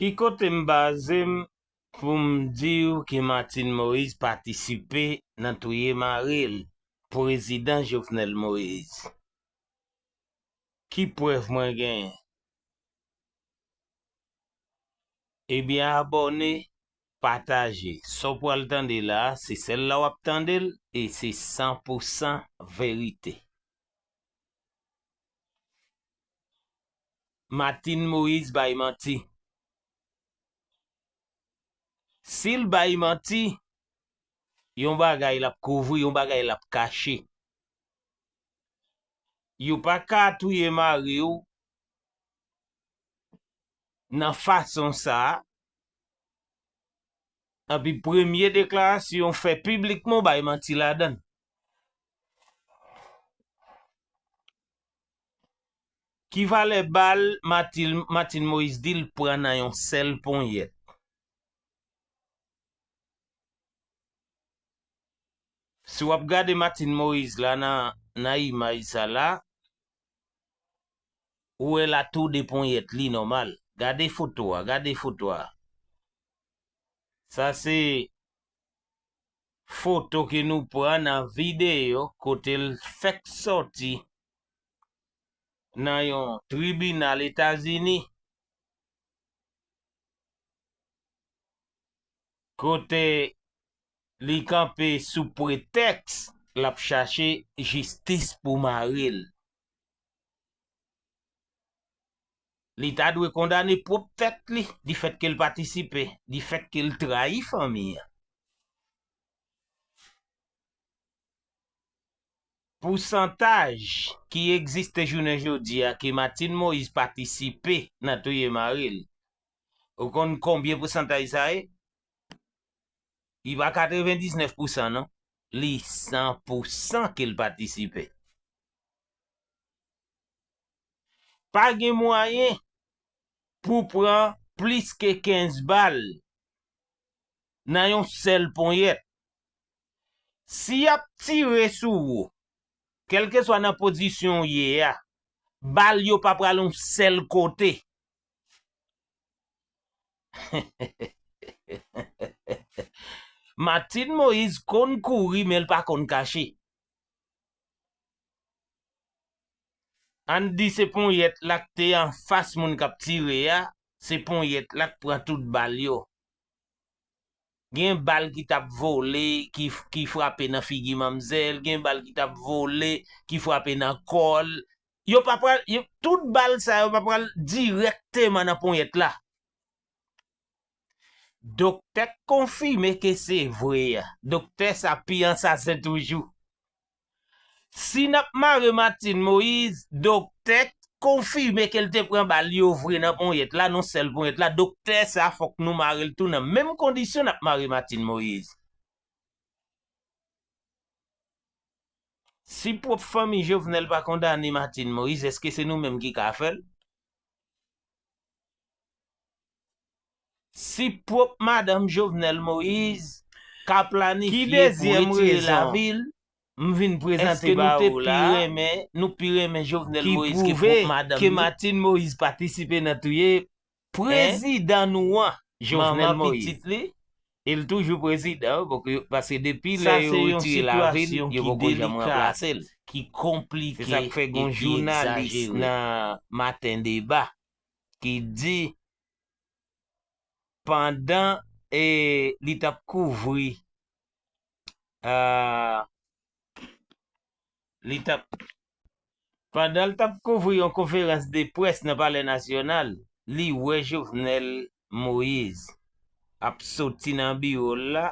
Ki kote m baze m pou m di w ke Martine Moïse patisipe nan touye mari l, Prezidan Jovenel Moïse? Ki prèv mwen genyen? Ebyen abòne, pataje. Sa w pral tande la a, se sèl la w ap tande l e se san pou san verite. Martine Moise bay manti. Sil bay manti, yon bagay lap kouvri, yon bagay lap kache. Yo pa ka touye mariw nan fason sa, epi premye deklarasyon ou fè piblikman ou bay manti ladann. Ki valè bal Martine Moise di l pran nan yon sèl ponyèt? Si w ap gade Martine Moise la nan imaj sa la, ou wè l a tou de ponyèt li nòmal. Gade foto a, gade foto a. Sa se foto ke nou pran nan videyo kote l fèk sòti nan yon tribinal Etazini, kote li kanpe sou pretèks l ap chache jistis pou mari l. Li ta dwe kondane pwòp tèt li difèt ke l patisipe, difèt ke l trayi fanmi an. Pousantaj ki egziste jounen jodi a ke Martine Moïse patisipe nan touye mari l, ou konn konbyen pousantaj sa ye? Li pa 99 pousan non, li 100 pousan ke l patisipe. Pa gen mwayen pou pran plis ke 15 bal nan yon sèl ponyèt. Si y ap tire sou ou, kèlkeswa nan pozisyon w ye a, bal yo pa pral yon sèl kote. Martine Moïse konn kouri men l pa konn kache. Ann di se ponyèt la k te anfas moun k ap tire a, se ponyèt la k pran tout bal yo. Gen bal ki t ap vole ki frape nan figi manmzèl, gen bal ki t ap vole ki frape nan kò l. Yo pa pral, tout bal sa yo pa pral dirèkteman nan ponyèt la. Doktè k konfime ke se vre a. Doktè sa pi ansasen toujou. Si n ap mare Martine Moise, doktè k konfime ke l te pran bal yo vre nan ponyèt la, nan sèl ponyèt la, doktè sa fòk nou mare l tou nan menm kondisyon n ap mare Martine Moise. Si pwòp fanmi Jovenel pa kondane Martine Moise, èske se nou menm ki ka fè l? Si pwop madanm Jovenel Moïse ka planifye pou retire lavil eske nou te pi renmen nou pi renmen Jovenel Moïse ke pwop madanm li. Ki pwouve ke Martine Moïse patisipe nan touye prezidan nou an Jovenel Moïse. E l toujou prezidan paske depi lè yo retire lavil yo poko janm ranplase l. Se sa k fè gon jounalis nan maten deba ki di pandan li tap kouvri yon konferans de près nan palè nasyonal, li wè Jovenel Moise ap soti nan biwo l la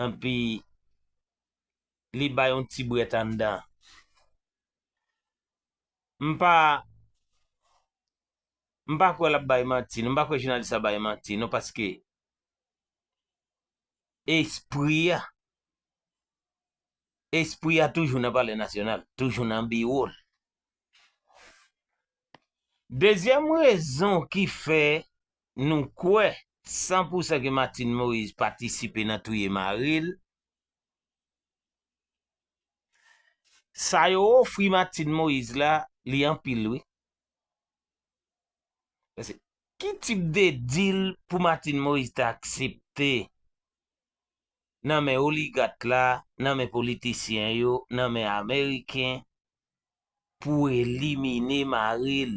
enpi li bay yon ti brèt anndan. m pa m pa kwè lap bay manti non m pa kwè jounalis sa bay manti non paske espri a espri a toujou nan palè nasyonal toujou nan biwo l dezyèm rezon ki fè nou kwè san pou san ke Martine Moïse patisipe nan touye mari l. Sa yo ofri Martine Moïse la li anpil wi. Paske ki tip de deal pou Martine Moïse ta aksepte nan men oligat la, nan men politisyen yo, nan men ameriken pou elimine mari l.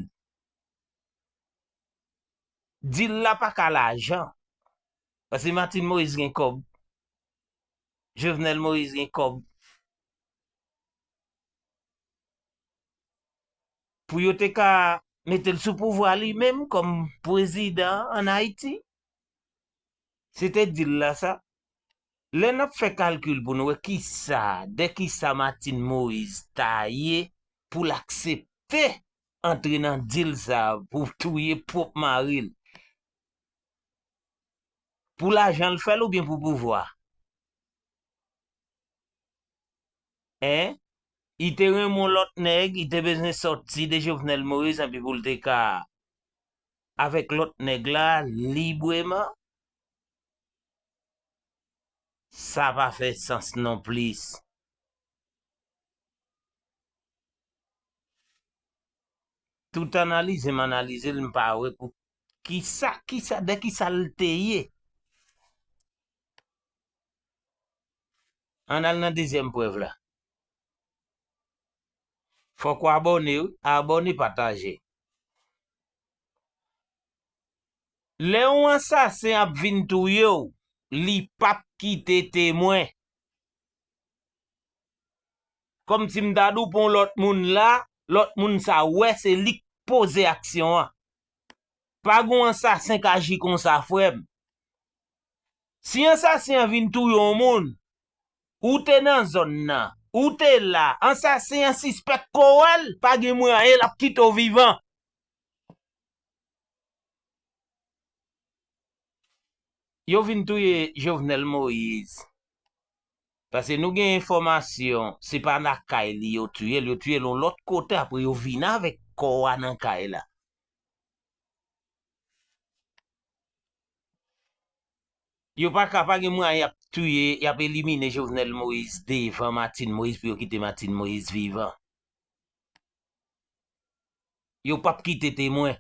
Deal la pa ka lajan. Paske Martine Moïse gen kòb. Jovenel Moïse gen kob pou yo te ka metel sou pouvwa li menm kom pwezidan an Haiti. Se te dil la sa. Lè nap fè kalkil pou nou wè ki sa, de ki sa Martine Moïse ta ye pou l aksepte antre nan dil sa pou touye pwop maril. Pou lajan l fè l oubyen pou pouvwa? Hein? I te renmen yon lòt nèg, i te bezwen sòti de Jovenel Moïse anpi pou l te ka avèk lòt nèg la libreman? Sa pa fè sans non plis. Tout analize m analize l m pa wè pou kisa kisa de kisa l te ye. Ann al nan dezyèm prèv la. Fòk ou abòne wi, abòne pataje. Lè yon ansasen ap vin touye w li pap kite temwen. Kòm si m ta di w pou yon lòt moun la, lòt moun sa wè se li k poze aksyon an. Pa gen yon ansasen k aji konsa frè m. Si ansasen an vin touye yon moun, ou te nan zòn nan, ou te la, ansasen an sispèk ke w wè l, pa gen mwayen l ap kite w vivan. Yo vin touye Jovenel Moïse. Paske nou gen enfòmasyon se pa lakay li yo tiye l, yo tiye l yon lòt kote apre yo vin avèk kò a nan kay la. Yo pa ka, pa gen mwayen y ap tiye, y ap elimine Jovenel Moïse devan Martine Moïse pou yo kite Martine Moïse vivan. Yo p ap kite temwen.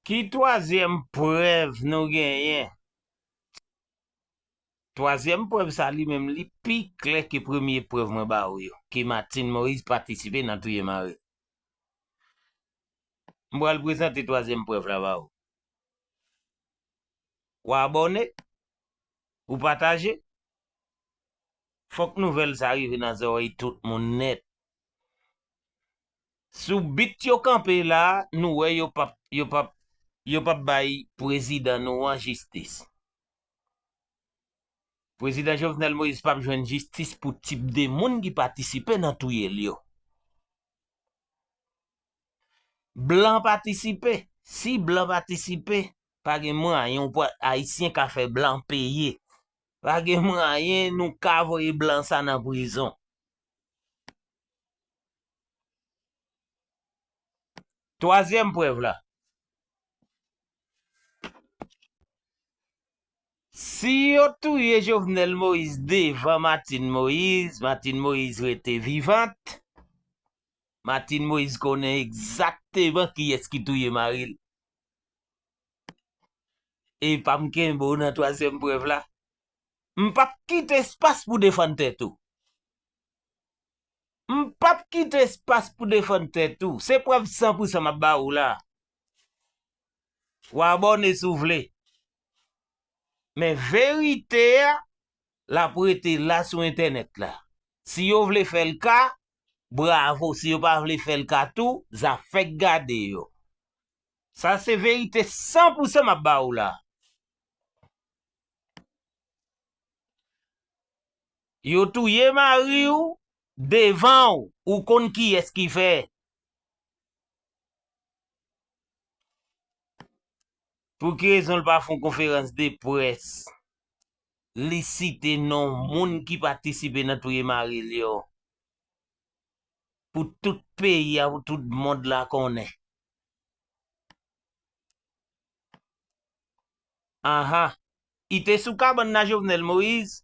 Ki twazyèm prèv nou genyen? Twazyèm prèv sa li menm li pi klè ke premye prèv mwen ba ou yo, ke Martine Moïse patisipe nan touye mari l. M pral prezante twazyèm prèv la ba ou. Ou abòne? Ou pataje? Fòk nouvèl sa rive nan zòrèy tout moun nèt. Sou bit yo kanpe la, nou wè yo p ap, yo p ap, yo p ap bay prezidan nou an jistis. Prezidan Jovenel Moïse pap jwenn jistis pou tip de moun ki patisipe nan touye l yo. Blan patisipe, si blan patisipe, pa gen mwayen Ayisyen ka fè blan peye. Pa gen mwayen nou ka voye blan sa nan prizon. Twazyèm prèv la, Si yo touye Jovenel Moïse devan Martine Moïse, Martine Moïse rete vivant, Martine Moïse konnen egzakteman kiyès ki touye mari l. Epa m kenbe w nan twazyèm prèv la? M pap kite espas pou w defann tèt ou. M pap kite espas pou defann tèt ou, se prèv san pou san m ap ba ou la. Ou abòne si w vle. Men verite a, l ap rete la sou entènèt la. Si yo vle fè l ka, bravo, si yo pa vle fè l ka tou, zafè k gade yo. Sa se verite san pou san m ap ba ou la. Yo touye mariw devanw ou konn kiyes ki fè. Pou ki rezon l pa fon konferans de près li site non moun ki patisipe nan touye mari l yo pou tout peyi a pou tout mond la konnen. Aha I te sou kabann nan Jovenel Moïse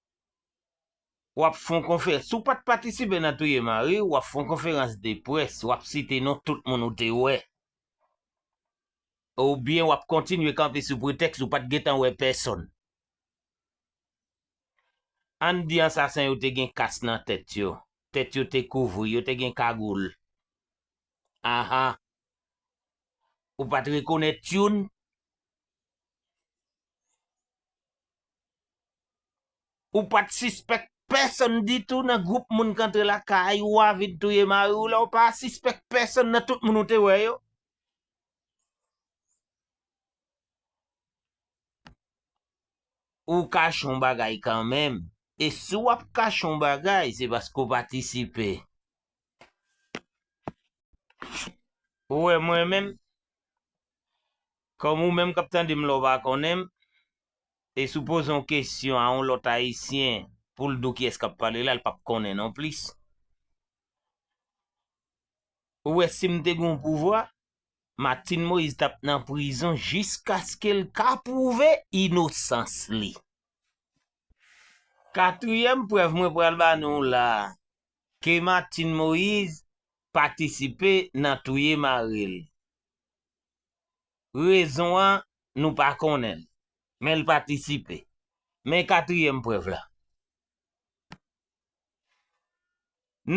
Wap fon konferans, si w pat patisipe nan touye mari w, wap fon konferans de près wap site non tout moun ou te wè. Ou byen wap kontinye kanpe sou pretèks ou pat gentan wè pèsonn. Ann di ansasen yo te gen kas nan tèt yo, tèt yo te kouvri, yo te gen kagoul. Aha. Ou pat rekonèt youn? Ou pat sispèk pèsonn ditou nan gwoup moun k antre lakay ou a vin touye mari w la ou pa sispèk pèsonn nan tout moun ou te wè yo. Ou kache yon bagay kanmenm e si w ap kache yon bagay se paske w patisipe. Ou wè mwen menm, kòm ou menm k ap tande m la w pa konnen m, E si w poze yon kesyon a yon lòt Ayisyen pou l di w kiyès k ap pale la, l pap konnen nonplis. Ou wè si m te gen yon pouvwa, Martine Moïse t ap nan prizon jiskaske l ka pwouve inosans li. Katriyèm prèv mwen pral ba nou w la a, ke Martine Moïse patisipe nan touye mari l. Rezon an, nou pa konnen l, men l patisipe. Men katriyèm prèv la.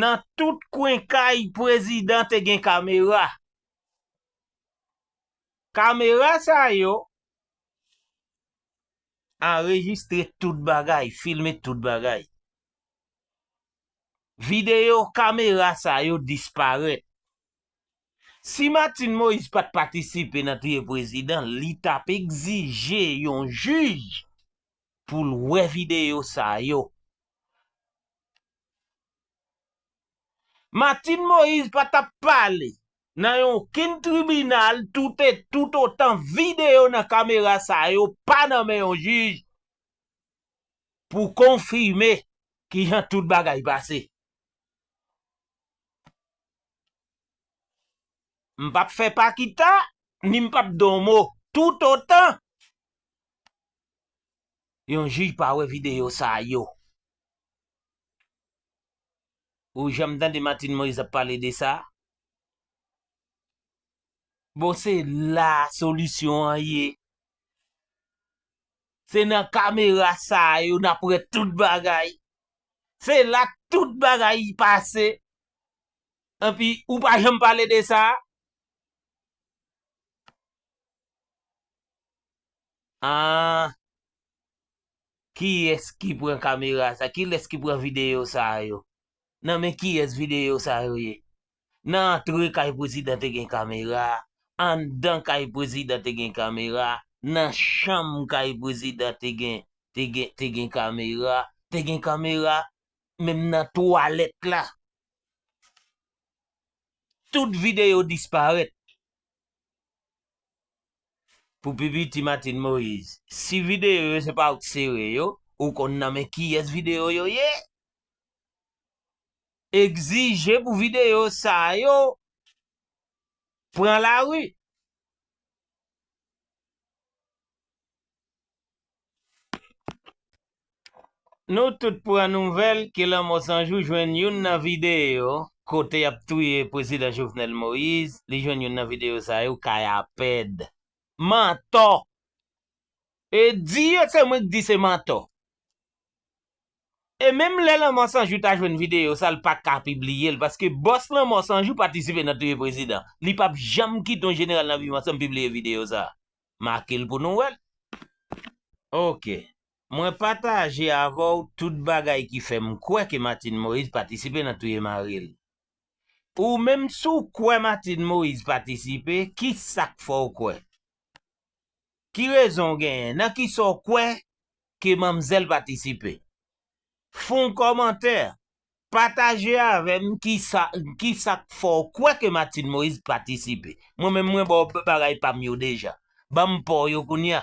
Nan tout kwen kay prezidan te gen kamera. Kamera sa yo anrejistre tout bagay, filme tout bagay. Videyo kamera sa yo disparèt. Si Martine Moïse pat patisipe nan touye prezidan li tap egzije yon jij poul wè video sa yo. Martine Moïse pa tap pale nan yon ken tribinal tout e tout otan video nan kamera sa yo pa nan men yon jij pou konfime kijan tout bagay pase. M p ap fè pa kita, ni m p ap di w mo. Toutotan yon jij pa wè videyo sa yo. Ou janm tande Martine Moïse ap pale de sa? Bon se la solisyon an ye. Se nan kamera sa yo n ap wè tout bagay. Se la tout bagay pase. Epi ou pa janm pale de sa a? Aah kiyès ki pran kamera sa kilès ki pran videyo sa yo nan men kiyès videyo sa yo ye nan antre kay prezidan te gen kamera anndan kay prezidan te gen kamera nan chanm kay prezidan te gen te gen te gen kamera te gen kamera menm nan twalèt la tout video disparèt pou pi piti Martine Moïse si video yo se pa ou k sere yo ou konn nan men kiyès video yo ye egzije pou video sa yo pran lari. Nou tout pran nouvèl ke lanmò san jou jwenn youn nan videyo kote yap touye prezidan Jovenel Moïse, li jwenn youn nan videyo sa yo kay Apèd. Mantò! E di yo se mwen k di se mantò. E menm lè lanmò san jou ta jwenn videyo sa l pa ka pibliye l paske bòs lanmò san jou patisipe nan touye prezidan. Li pap janm kite yon jeneral nan viv ansanm pibliye videyo sa. make l pou nou wè l. Ok. Mwen pataje avè w tout bagay ki fè m kwè ke Martine Moïse patisipe nan touye mari l. Ou menm si w kwè Martine Moïse patisipe, ki sa k fè w kwè? Ki rezon w genyen? Nan ki sa w kwè ke manmzèl patisipe? Fon kòmantè, pataje avè m kisa kisa k fè w kwè ke Martine Moise patisipe. Mwen menm mwen ba w bagay pa m yo deja. Ban m pa w yo kounya.